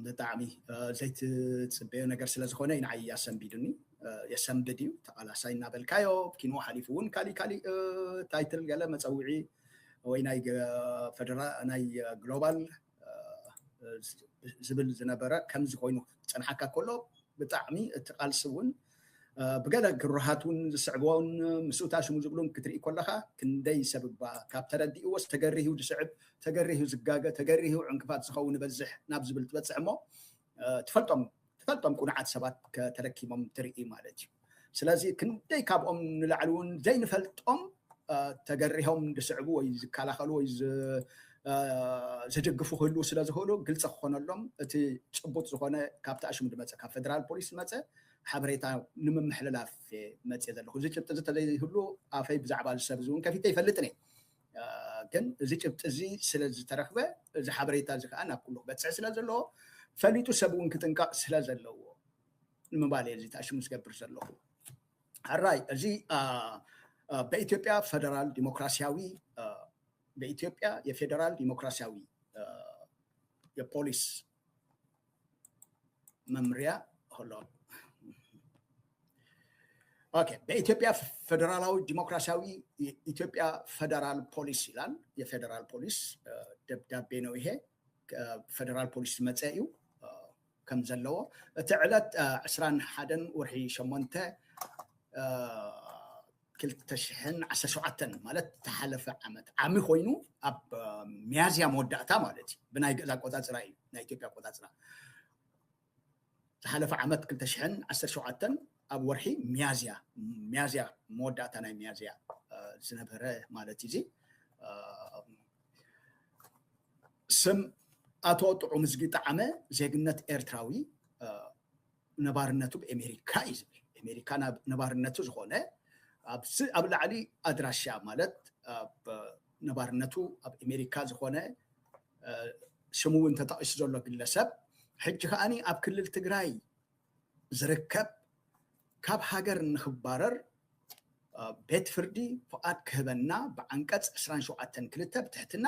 ብጣዕሚ ዘይትፅበዮ ነገር ስለዝኾነ ንዓይ ኣሰንቢዱኒ የሰንብድ እዩ ተቓላሳይ እናበልካዮ ኪኖ ሓሊፉ እውን ካሊእ ካሊእ ታይትል ገለ መፀውዒ ወይ ናይ ግሎባል ዝብል ዝነበረ ከምዚ ኮይኑ ክፀንሓካ ከሎ ብጣዕሚ እቲ ቃልሲ እውን ብገለ ግሩሃት እውን ዝስዕቦን ምስኡ ታሽሙ ዝብሉን ክትርኢ ከለካ ክንደይ ሰብ እባ ካብ ተረዲእዎስ ተገሪሁ ዝስዕብ ተገሪሁ ዝጋገ ተገሪሁ ዕንቅፋት ዝኸውን ይበዝሕ ናብ ዝብል ትበፅሕ እሞ ትፈልጦም ትፈልጦም ቁኑዓት ሰባት ከተለኪሞም ትርኢ ማለት እዩ ስለዚ ክንደይ ካብኦም ንላዕሊ እውን ዘይንፈልጦም ተገሪሆም ዝስዕቡ ወይ ዝከላኸሉ ወይ ዝድግፉ ክህልው ስለ ዝኽእሉ ግልፂ ክኾነሎም እቲ ጭቡጥ ዝኾነ ካብቲ ኣሽሙ ዝመፀ ካብ ፌደራል ፖሊስ ዝመፀ ሓበሬታ ንምምሕልላፍ መፅእ ዘለኹ እዚ ጭብጢ እዚ ተዘይህሉ ኣፈይ ብዛዕባ ዝሰብ እዚ እውን ከፊተ ይፈልጥን እየ ግን እዚ ጭብጢ እዚ ስለ ዝተረኽበ እዚ ሓበሬታ እዚ ከዓ ናብ ኩሉ ክበፅሕ ስለ ዘለዎ ፈሊጡ ሰብ እውን ክጥንቀቕ ስለ ዘለዎ ንምባል እየ እዚ ተኣሽሙ ዝገብር ዘለኹ ሕራይ እዚ በኢትዮጵያ ፌደራል ዲሞክራሲያዊ በኢትዮጵያ የፌደራል ዲሞክራሲያዊ የፖሊስ መምርያ ሆሎ ኦኬ በኢትዮጵያ ፌዴራላዊ ዲሞክራሲያዊ የኢትዮጵያ ፌዴራል ፖሊስ ይላል። የፌዴራል ፖሊስ እ፣ ደብዳቤ ነው ይሄ ፌዴራል ፖሊስ ዝመፀ እዩ እ፣ ከም ዘለዎ እቲ ዕለት እ፣ ዕስራን ሓደን ወርሒ ሸሞንተ እ፣ ክልተ ሽሕን ዓሰርተ ሸውዓተን ማለት ተሓለፈ ዓመት ዓሚ ኮይኑ ኣብ ሚያዝያ መወዳእታ ማለት እዩ ብናይ ግእዝ ኣቆፃፅራ እዩ ናይ ኢትዮጵያ ኣቆፃፅራ ዝሓለፈ ዓመት ክልተ ሽሕን ዓሰርተ ሸውዓተን ኣብ ወርሒ ሚያዝያ ሚያዝያ መወዳእታ ናይ ሚያዝያ ዝነበረ ማለት እዩ እዚ ስም ኣቶ ጥዑም ዝጊ ጣዓመ ዜግነት ኤርትራዊ ነባርነቱ ብ ኤሜሪካ እዩ ዝብል ኤሜሪካ ናብ ነባርነቱ ዝኮነ ኣብዚ ኣብ ላዕሊ ኣድራሻ ማለት ኣብ ነባርነቱ ኣብ ኤሜሪካ ዝኮነ ሽሙ እውን ተጠቂሱ ዘሎ ግለሰብ ሕጂ ከዓኒ ኣብ ክልል ትግራይ ዝርከብ ካብ ሃገር ንክባረር ቤት ፍርዲ ፍቓድ ክህበና ብዓንቀፅ ዕስራን ሸውዓተን ክልተ ብትሕትና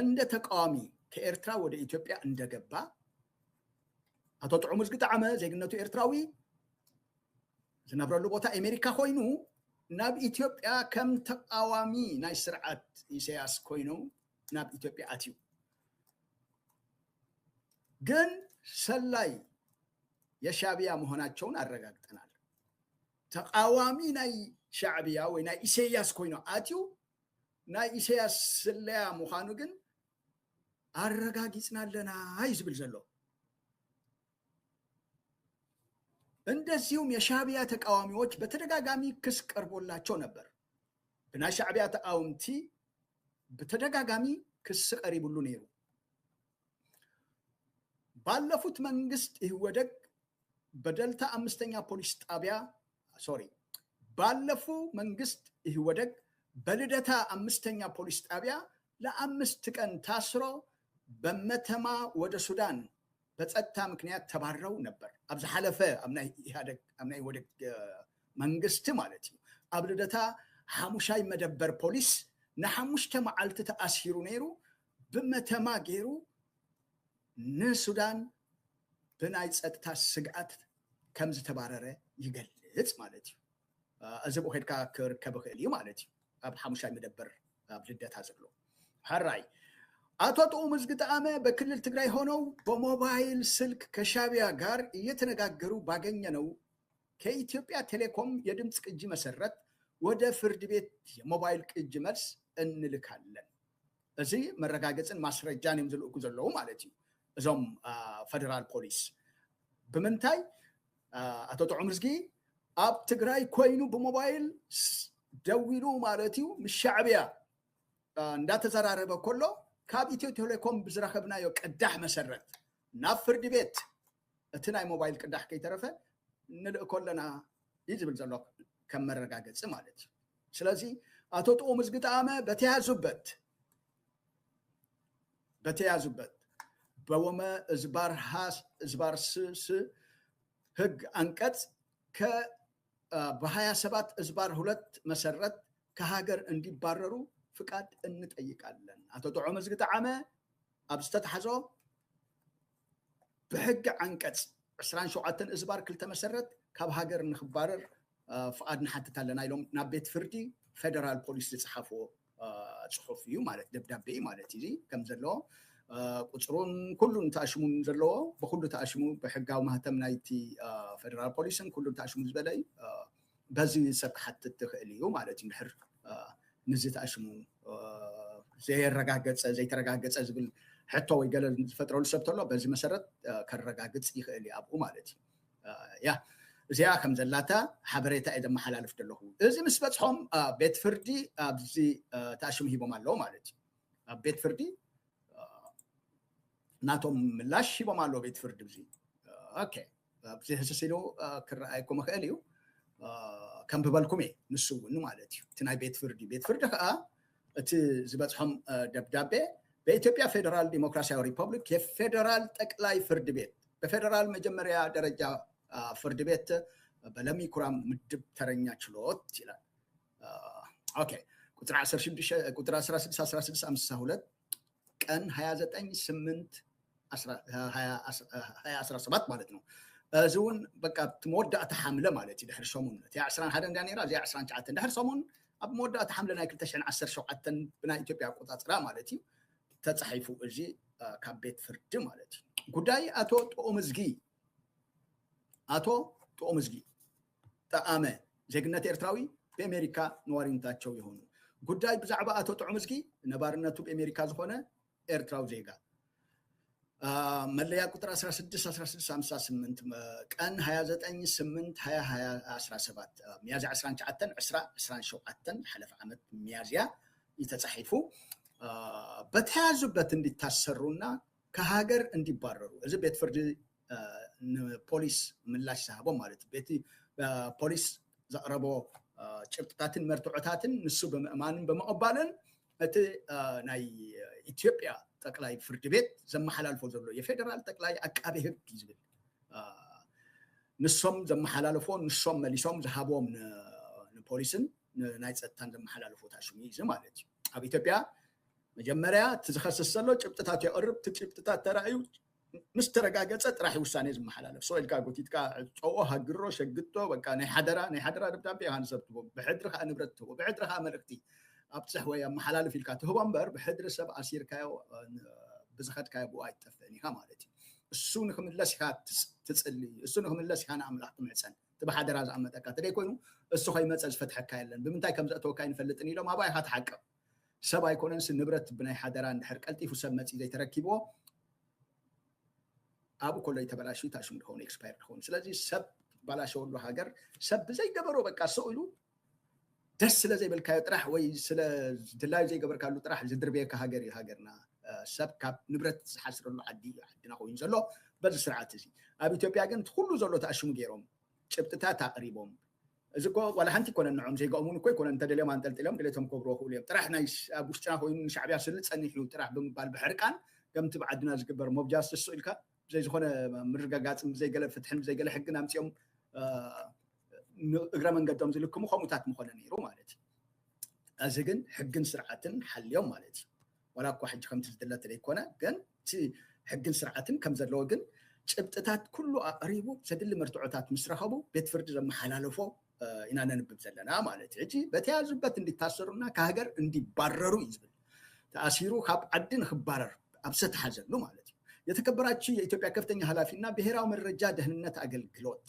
እንደ ተቃዋሚ ከኤርትራ ወደ ኢትዮጵያ እንደገባ ኣቶ ጥዑም ዝግጣዓመ ዜግነቱ ኤርትራዊ ዝነብረሉ ቦታ ኣሜሪካ ኮይኑ ናብ ኢትዮጵያ ከም ተቃዋሚ ናይ ስርዓት ኢሳያስ ኮይኑ ናብ ኢትዮጵያ ኣትዩ ግን ሰላይ የሻዕብያ መሆናቸውን ኣረጋግጠናል ተቃዋሚ ናይ ሻዕብያ ወይ ናይ ኢሳያስ ኮይኑ ኣትዩ ናይ ኢሰያስ ስለያ ምዃኑ ግን ኣረጋጊጽና ኣለና እዩ ዝብል ዘሎ እንደዚሁም የሻዕብያ ተቃዋሚዎች በተደጋጋሚ ክስ ቀርቦላቸው ነበር። ብናይ ሻዕብያ ተቃወምቲ ብተደጋጋሚ ክስ ቀሪብሉ ነይሩ። ባለፉት መንግስት ኢህወደግ በደልታ አምስተኛ ፖሊስ ጣቢያ ሶሪ ባለፉ መንግስት ኢህወደግ በልደታ አምስተኛ ፖሊስ ጣቢያ ለአምስት ቀን ታስሮ በመተማ ወደ ሱዳን በጸጥታ ምክንያት ተባረው ነበር ኣብ ዝሓለፈ ኣብ ናይ ኢህአደግ ኣብ ናይ ኢህወደግ መንግስቲ ማለት እዩ ኣብ ልደታ ሓሙሻይ መደበር ፖሊስ ንሓሙሽተ መዓልቲ ተኣሲሩ ነይሩ ብመተማ ገይሩ ንሱዳን ብናይ ፀጥታ ስግኣት ከም ዝተባረረ ይገልፅ ማለት እዩ። እዚ ብኡ ከድካ ክርከብ ይኽእል እዩ ማለት እዩ። ኣብ ሓሙሻይ መደበር ኣብ ልደታ ዘሎ ሐራይ አቶ ጥዑም እዝግጠአመ በክልል ትግራይ ሆነው በሞባይል ስልክ ከሻቢያ ጋር እየተነጋገሩ ባገኘነው ከኢትዮጵያ ቴሌኮም የድምፅ ቅጂ መሰረት ወደ ፍርድ ቤት የሞባይል ቅጂ መልስ እንልካለን። እዚ መረጋገፅን ማስረጃን እዮም ዝልእኩ ዘለዉ ማለት እዩ እዞም ፈደራል ፖሊስ ብምንታይ ኣቶ ጥዑምዝጊ ኣብ ትግራይ ኮይኑ ብሞባይል ደዊሉ ማለት እዩ ምስ ሻዕብያ እንዳተዘራረበ ከሎ ካብ ኢትዮ ቴሌኮም ብዝረኸብናዮ ቅዳሕ መሰረት ናብ ፍርዲ ቤት እቲ ናይ ሞባይል ቅዳሕ ከይተረፈ ንልእኮ ኣለና እዩ ዝብል ዘሎ ከም መረጋገፂ ማለት እዩ ስለዚ ኣቶ ጥኡም ዝግጠኣመ በተያዙበት በተያዙበት በወመ እዝባር ሃስ እዝባር ስስ ህግ አንቀጽ ከ በሀያ ሰባት እዝባር ሁለት መሰረት ከሀገር እንዲባረሩ ፍቃድ እንጠይቃለን። ኣቶ ጥዑም እዝጊ ጠዓመ ኣብ ዝተታሕዞ ብሕጊ ዓንቀፅ ዕስራን ሸውዓተን እዝባር ክልተ መሰረት ካብ ሃገር ንክባረር ፍቓድ ንሓትት ኣለና ኢሎም ናብ ቤት ፍርዲ ፌደራል ፖሊስ ዝፀሓፍዎ ፅሑፍ እዩ ማለት ደብዳቤ እዩ ማለት እዩ ከም ዘለዎ ቁፅሩን ኩሉን ተኣሽሙን ዘለዎ ብኩሉ ተኣሽሙ ብሕጋዊ ማህተም ናይቲ ፌደራል ፖሊስን ኩሉን ተኣሽሙ ዝበለ እዩ በዚ ሰብ ክሓትት ይኽእል እዩ ማለት እዩ ድሕር ንዚ ተኣሽሙ ዘየረጋገፀ ዘይተረጋገፀ ዝብል ሕቶ ወይ ገለ ዝፈጥረሉ ሰብ ተሎ በዚ መሰረት ከረጋግፅ ይኽእል እዩ ኣብኡ ማለት እዩ ያ እዚኣ ከም ዘላታ ሓበሬታ እየ ዘመሓላልፍ ዘለኹ እዚ ምስ በፅሖም ቤት ፍርዲ ኣብዚ ተኣሽሙ ሂቦም ኣለዎ ማለት እዩ ኣብ ቤት ፍርዲ ናቶም ምላሽ ሂቦም ኣለዎ ቤት ፍርዲ እዚ ኦኬ ኣብዚ ህስስ ኢሉ ክረኣ ኣይኮመ ክእል እዩ ከም ብበልኩም እየ ንሱ እውን ማለት እዩ እቲ ናይ ቤት ፍርዲ ቤት ፍርዲ ከዓ እቲ ዝበፅሖም ደብዳቤ በኢትዮጵያ ፌደራል ዲሞክራሲያዊ ሪፐብሊክ የፌደራል ጠቅላይ ፍርድ ቤት በፌደራል መጀመሪያ ደረጃ ፍርድ ቤት በለሚ ኩራም ምድብ ተረኛ ችሎት ይላል ኦኬ ቁጥር 16 16 16 52 ቀን 29 8 2017 ማለት ነው እዚ እውን በቃ እቲ መወዳእታ ሓምለ ማለት እዩ ድሕሪ ሰሙን እቲኣ 21 እንዳ ነራ እዚኣ 29 ድሕሪ ሰሙን ኣብ መወዳእታ ሓምለ ናይ 217 ብናይ ኢትዮጵያ ኣቆፃፅራ ማለት እዩ ተፃሒፉ እዚ ካብ ቤት ፍርዲ ማለት እዩ ጉዳይ ኣቶ ጥኦምዝጊ ኣቶ ጥኦምዝጊ ጠኣመ ዜግነት ኤርትራዊ ቤሜሪካ ነዋሪንታቸው የሆኑ ጉዳይ ብዛዕባ ኣቶ ጥዑምዝጊ ነባርነቱ ቤሜሪካ ዝኾነ ኤርትራዊ ዜጋ መለያ ቁጥር 161658 ቀን 29/8/2017 ሚያዝያ 29 20 27 ሓለፈ ዓመት ሚያዝያ እዩ ተጻሒፉ በተያዙበት እንዲታሰሩና ከሃገር እንዲባረሩ እዚ ቤት ፍርዲ ንፖሊስ ምላሽ ዝሃቦ ማለት እዩ ቤቲ ፖሊስ ዘቕረቦ ጭብጥታትን መርትዖታትን ንሱ ብምእማንን ብምቕባልን እቲ ናይ ኢትዮጵያ ጠቅላይ ፍርድ ቤት ዘመሓላልፎ ዘሎ የፌደራል ጠቅላይ ኣቃቤ ህግ እዩ ዝብል ንሶም ዘመሓላለፎ ንሶም መሊሶም ዝሃቦም ንፖሊስን ናይ ፀጥታን ዘመሓላለፎ ታሽሙ እዩ ማለት እዩ ኣብ ኢትዮጵያ መጀመርያ እቲ ዝኸስስ ዘሎ ጭብጥታት የቕርብ እቲ ጭብጥታት ተራእዩ ምስ ተረጋገጸ ጥራሕ'ዩ ውሳኔ ዝመሓላለፍ። ሱቕ ኢልካ ጎቲትካ ዕጸዎ፣ ሃግሮ፣ ሸግቶ፣ በቃ ናይ ሓደራ ናይ ሓደራ ደብዳቤ ኢኻ ንሰብ ትህቦ፣ ብሕድሪ ከኣ ንብረት ትህቦ፣ ብሕድሪ ከኣ መልእኽቲ ኣብጽሕ ወይ ኣመሓላልፍ ኢልካ ትህቦ እምበር ብሕድሪ ሰብ ኣሲርካዮ ብዝኸድካዮ ብኡ ኣይትጠፍእን ኢኻ ማለት'ዩ። እሱ ንክምለስ ኢኻ ትጽሊ፣ እሱ ንክምለስ ኢኻ ንኣምላኽ ትምሕጸን። እቲ ብሓደራ ዝኣመጠካ ተደይ ኮይኑ እሱ ከይመጸ ዝፈትሐካ የለን፣ ብምንታይ ከም ዘእተወካ ኣይንፈልጥን ኢሎም ኣባይ ኢኻ ትሓቅቕ። ሰብ ኣይኮነንሲ ንብረት ብናይ ሓደራ እንድሕር ቀልጢፉ ሰብ መፂኡ ዘይተረኪብዎ ኣብኡ ከሎ እዩ ተበላሽዩ ታሽሙ ድኸውን ኤክስፓየር ድኸውን ስለዚ ሰብ ባላሸወሉ ሃገር ሰብ ብዘይገበሮ በቃ ሰው ኢሉ ደስ ስለ ዘይበልካዮ ጥራሕ ወይ ስለ ድላዩ ዘይገበርካሉ ጥራሕ ዝድርበየካ ሃገር እዩ ሃገርና ሰብ ካብ ንብረት ዝሓስረሉ ዓዲ እዩ ዓድና ኮይኑ ዘሎ በዚ ስርዓት እዚ ኣብ ኢትዮጵያ ግን ኩሉ ዘሎ ተኣሽሙ ገይሮም ጭብጥታት ኣቕሪቦም እዚ እኮ ዋላ ሓንቲ ኣይኮነን ንዕኦም ዘይገኦሙን እኮ ኣይኮነን እንተደልዮም ኣንጠልጢሎም ድሌቶም ክገብርዎ ይኽእሉ እዮም ጥራሕ ናይ ኣብ ውሽጥና ኮይኑ ንሻዕብያ ስኒ ጸኒሑ እዩ ጥራሕ ብምባል ብሕርቃን ከምቲ ብ ዓድና ዝግበር ሞብ ጃስትስ ሱቅ ኢልካ ብዘይ ዝኾነ ምርጋጋጽን ብዘይ ገለ ፍትሕን ብዘይ ገለ ሕግን ኣምጺኦም ን እግረ መንገዶም ዝልክሙ ከምኡታት ምኾነ ኔሩ ማለት እዩ እዚ ግን ሕግን ስርዓትን ሓልዮም ማለት እዩ። ዋላ እኳ ሕጂ ከምቲ ዝድለ ዘይኮነ ግን እቲ ሕግን ስርዓትን ከም ዘለዎ ግን ጭብጥታት ኩሉ ኣቕሪቡ ዘድሊ መርትዖታት ምስ ረኸቡ ቤት ፍርዲ ዘመሓላለፎ ኢና ነንብብ ዘለና ማለት እዩ። ሕጂ በተያዙበት እንዲታሰሩና ከሃገር እንዲባረሩ እዩ ዝብል። ተኣሲሩ ካብ ዓዲ ንክባረር ኣብ ዝተታሓዘሉ ማለት እዩ። የተከበራችሁ የኢትዮጵያ ከፍተኛ ኃላፊና ብሔራዊ መረጃ ደህንነት አገልግሎት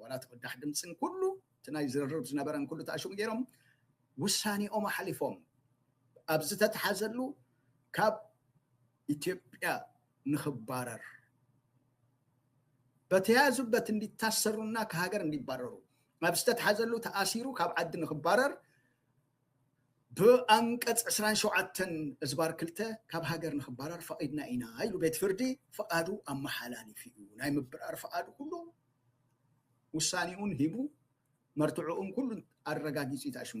ዋላ እቲ ቅዳሕ ድምፅን ኩሉ እቲ ናይ ዝርርብ ዝነበረን ኩሉ ተኣሽሙ ገይሮም ውሳኔኦም ኣሕሊፎም ኣብ ዝተትሓዘሉ ካብ ኢትዮጵያ ንክባረር በተያያዙበት እንዲታሰሩና ከሃገር እንዲባረሩ ኣብ ዝተትሓዘሉ ተኣሲሩ ካብ ዓዲ ንክባረር ብኣንቀፅ ዕስራን ሸውዓተን እዝባር ክልተ ካብ ሃገር ንክባረር ፈቒድና ኢና ኢሉ ቤት ፍርዲ ፍቓዱ ኣመሓላሊፉ እዩ። ናይ ምብራር ፍቓዱ ኩሉ ውሳኔኡን ሂቡ መርትዕኡን ኩሉ ኣረጋጊፁ እዩ ተኣሽሙ።